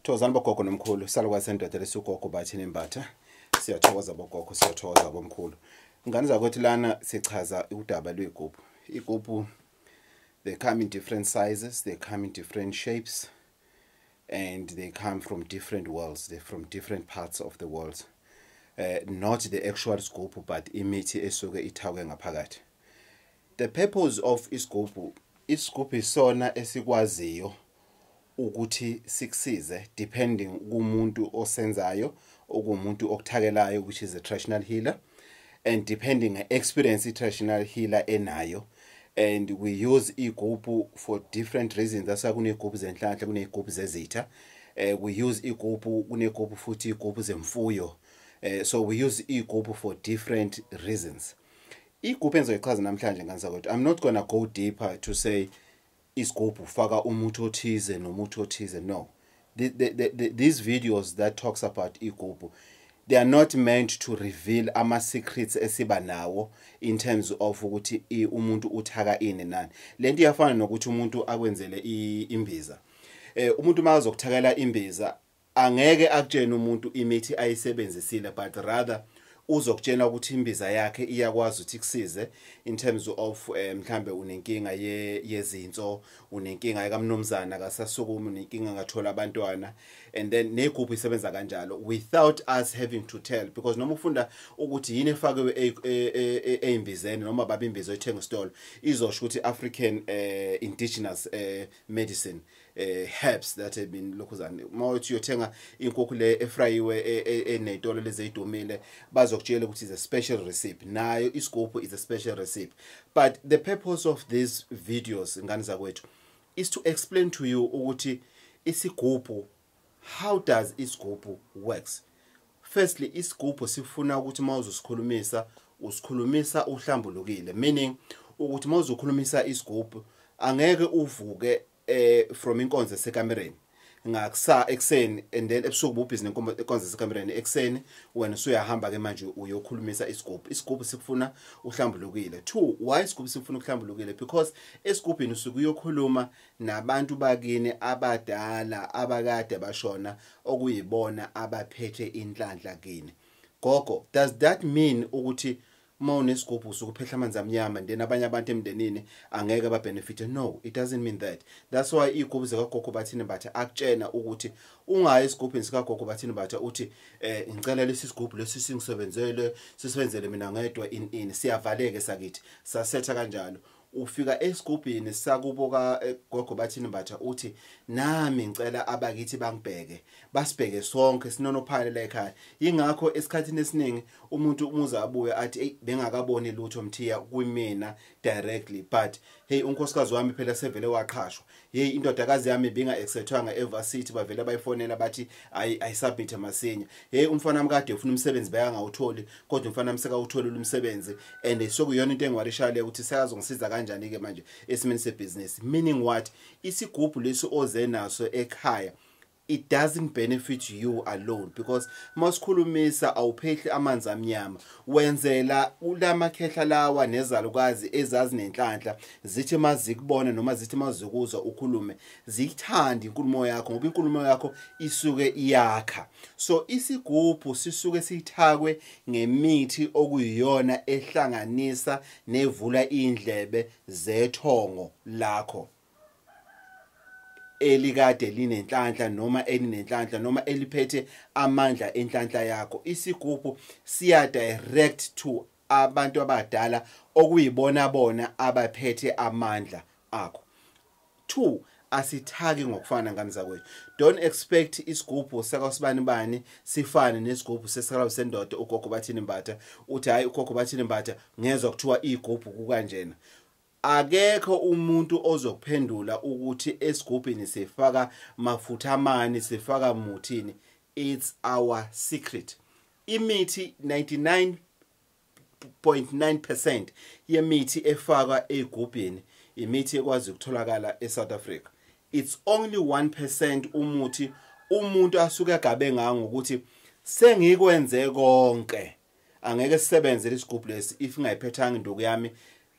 thokozani bogogo nomkhulu salukwazi sendoda lesugogo bathini imbatha siyathokoza bogogo siyathokoza bomkhulu ngane zakwethu lana sichaza udaba lwey'gubhu iy'gubhu they come in different sizes they come in different shapes and they come from different worlds they're from different parts of the world uh, not the actual sgubhu but imithi esuke ithakwe ngaphakathi The purpose of isigubhu isigubhu isona esikwaziyo ukuthi sikusize depending kumuntu osenzayo okumuntu okuthakelayo which is a traditional healer and depending on experience traditional healer enayo and we use igubhu for different reasons that's why kunegubhu zenhlanhla kunegubhu zezitha uh, we use igubhu kunegubhu futhi igubhu zemfuyo uh, so we use igubhu for different reasons igubhu engizoyichaza namhlanje ngane zakwethu i'm not gonna go deeper to say isigubhu ufaka umuthi othize nomuthi othize no the, the, the, the, these videos that talks about igubhu they are not meant to reveal ama secrets esiba nawo in terms of ukuthi umuntu uthaka ini nani lento iyafana nokuthi umuntu akwenzele imbiza eh umuntu mazokuthakela imbiza angeke akutshene umuntu imithi ayisebenzisile but rather uzokutshela ukuthi imbiza yakhe iyakwazi ukuthi kusize in terms of eh, mhlambe unenkinga ye yezinso unenkinga ekamnumzana kasasukumi unenkinga ngathola abantwana and then negroup isebenza kanjalo without us having to tell because noma ufunda ukuthi yini efakiwe e, e, e, ezimbizeni noma babimbizo ethenga stolo izosho ukuthi African eh, indigenous eh, medicine eh herbs that have been lokhuzane uma uthi uyothenga inkukhu le efrayiwe e, e, enezitolo lezidumile bazokutshela ukuthi is a special recipe nayo isigubhu is a special recipe but the purpose of these videos ngani zakwethu is to explain to you ukuthi isigubhu how does isigubhu works firstly isigubhu sifuna ukuthi uma uzosikhulumisa usikhulumisa uhlambulukile meaning ukuthi uma uzokhulumisa isigubhu angeke uvuke eh from inkonzo esekamereni ngakusa ekseni and then ebusuku bubhizi nenkonzo esekamereni ekseni wena usuyahamba ke manje uyokhulumisa isigubhu isigubhu sikufuna uhlambulukile two why isigubhu sikufuna ukuhlambulukile because esigubhini usuke uyokhuluma nabantu bakini abadala abakade bashona okuyibona abaphethe inhlanhla kini gogo does that mean ukuthi uma unesigubhu usukuphehla amanzi amnyama then abanye abantu emndenini angeke babenefite no it doesn't mean that that's why iy'gubhu zikagogo bathini batha akutshena ukuthi ungayi esigubhini sikagogo bathini batha uthi um ngicela lesi sigubhu lesi singisebenzele sisebenzele mina ngedwa in in siyavaleke sakithi sasetha kanjalo ufika esigubhini sakubo ka eh, gogo bathini mbatha uthi nami ngicela abakithi bangibheke basibheke sonke sinonophale la ekhaya ingakho esikhathini esiningi umuntu umuze abuye athi hey bengakaboni lutho mthiya kumina directly but hey unkosikazi wami phela sevele waqhashwa hey indodakazi yami binga acceptwanga evarsity bavele bayifonela bathi ayi ayi submit masinya hey umfana wami kade ufuna umsebenzi beka ngawutholi kodwa umfana wami seka utholi umsebenzi and sokuyona into engiwarisha le ukuthi sekazongisiza kanjani ke manje esimeni sebusiness meaning what isigubhu lesi oze naso ekhaya it doesn't benefit you alone because masikhulumisa awuphehli amanzi amnyama wenzela ulama khehla lawa nezalukazi ezazi nenhlanhla zithi mazikubona noma zithi mazikuzwa ukhulume ziyithanda inkulumo yakho ngoba inkulumo yakho isuke iyakha so isigubhu sisuke sithakwe ngemithi okuyiyona ehlanganisa nevula indlebe zethongo lakho elikade linenhlanhla noma elinenhlanhla noma eliphethe amandla enhlanhla yakho isigubhu siya direct to abantu abadala okuyibona bona abaphethe amandla akho 2 asithaki ngokufana ngani zakwethu don't expect isigubhu sakasibani bani sifane nesigubhu sesikalawu sendoda ugogo bathini mbatha uthi hayi ugogo bathini mbatha ngezwa kuthiwa igubhu kukanjena Akekho umuntu ozokuphendula ukuthi esigubhini sifaka mafutha mani sifaka muthini it's our secret imithi 99.9% yemithi efakwa egubhini imithi ekwazi ukutholakala eSouth Africa it's only 1% umuthi umuntu asuke agabe ngawo ngokuthi sengikwenze konke angeke sisebenze lesigubhu lesi if ngayiphethanga induku yami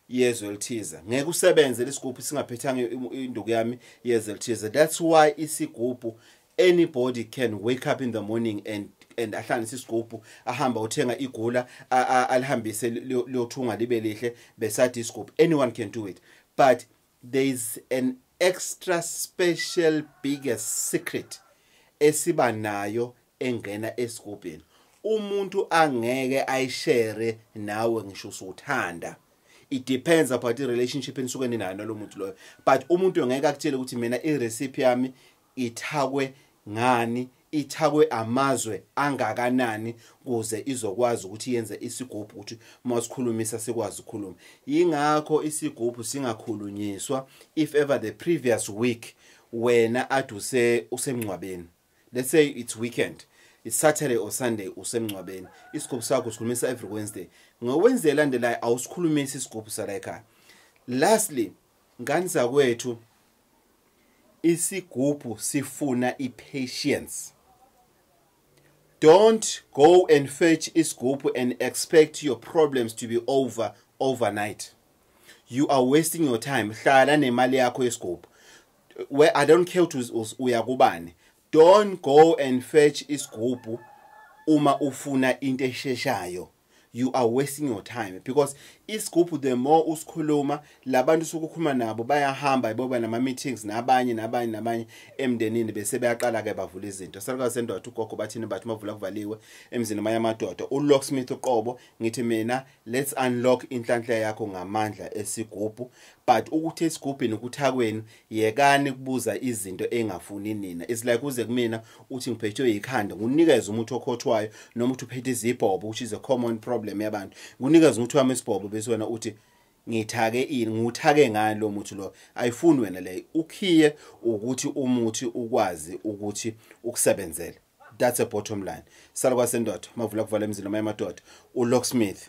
yezwe elithize ngeke usebenze lesigubhu singaphethanga induku yami yezwe elithize that's why isigubhu anybody can wake up in the morning and and ahlanganise isigubhu ahamba uthenga igula alihambise liyothunga libe lihle besathi isigubhu anyone can do it but There is an extra special biggest secret esiba nayo engena esigubhini. Umuntu angeke ayishare nawe ngisho usuthanda. It depends about the relationship enisuke ninayo nalomuntu loyo. But umuntu ngeke akutshele ukuthi mina i recipe yami ithakwe ngani ithakwe amazwe angakanani kuze izokwazi ukuthi yenze isigubhu ukuthi uma sikhulumisa sikwazi ukukhuluma yingakho isigubhu singakhulunyiswa if ever the previous week wena ade use usemngcwabeni let's say it's weekend it's saturday or sunday usemngcwabeni isigubhu sakho sikhulumisa every wednesday ngowenzela ndelayo awusikhulumisi isigubhu sala ekhaya lastly Ngani zakwethu isigubhu sifuna i-patience. Don't go and fetch isigubhu and expect your problems to be over overnight. You are wasting your time. Hlala nemali yakho yesigubhu. Where I don't care to uya kubani. Don't go and fetch isigubhu uma ufuna into esheshayo. you are wasting your time because isigubhu the more usikhuluma labantu sokukhuluma nabo bayahamba iboba nama meetings nabanye nabanye nabanye emndenini bese beyaqala ke bavula izinto salukazi sendoda ugogo bathini bathi mavula kuvaliwe emzini maya madoda ulocksmith uqobo ngithi mina let's unlock inhlanhla yakho ngamandla esigubhu but ukuthi esigubhini ukuthakwenu yekani kubuza izinto engafuni nina it's like uze kumina uthi ngiphethwe yikhanda ngunikeza umuthi okhothwayo noma uthi uphethe izibhobo which is a common problem yabantu ngunikeza umuthi wami isibhobo bese wena uthi ngithake ini nguthake ngani lo muthi lo ayifuni wena le ukhiye ukuthi umuthi ukwazi ukuthi ukusebenzele that's a bottom line salwa sendoda mavula kuvala emzini noma emadoda ulocksmith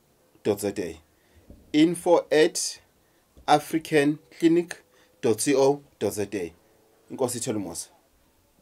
za info at africanclinic co za inkosi ithela umusa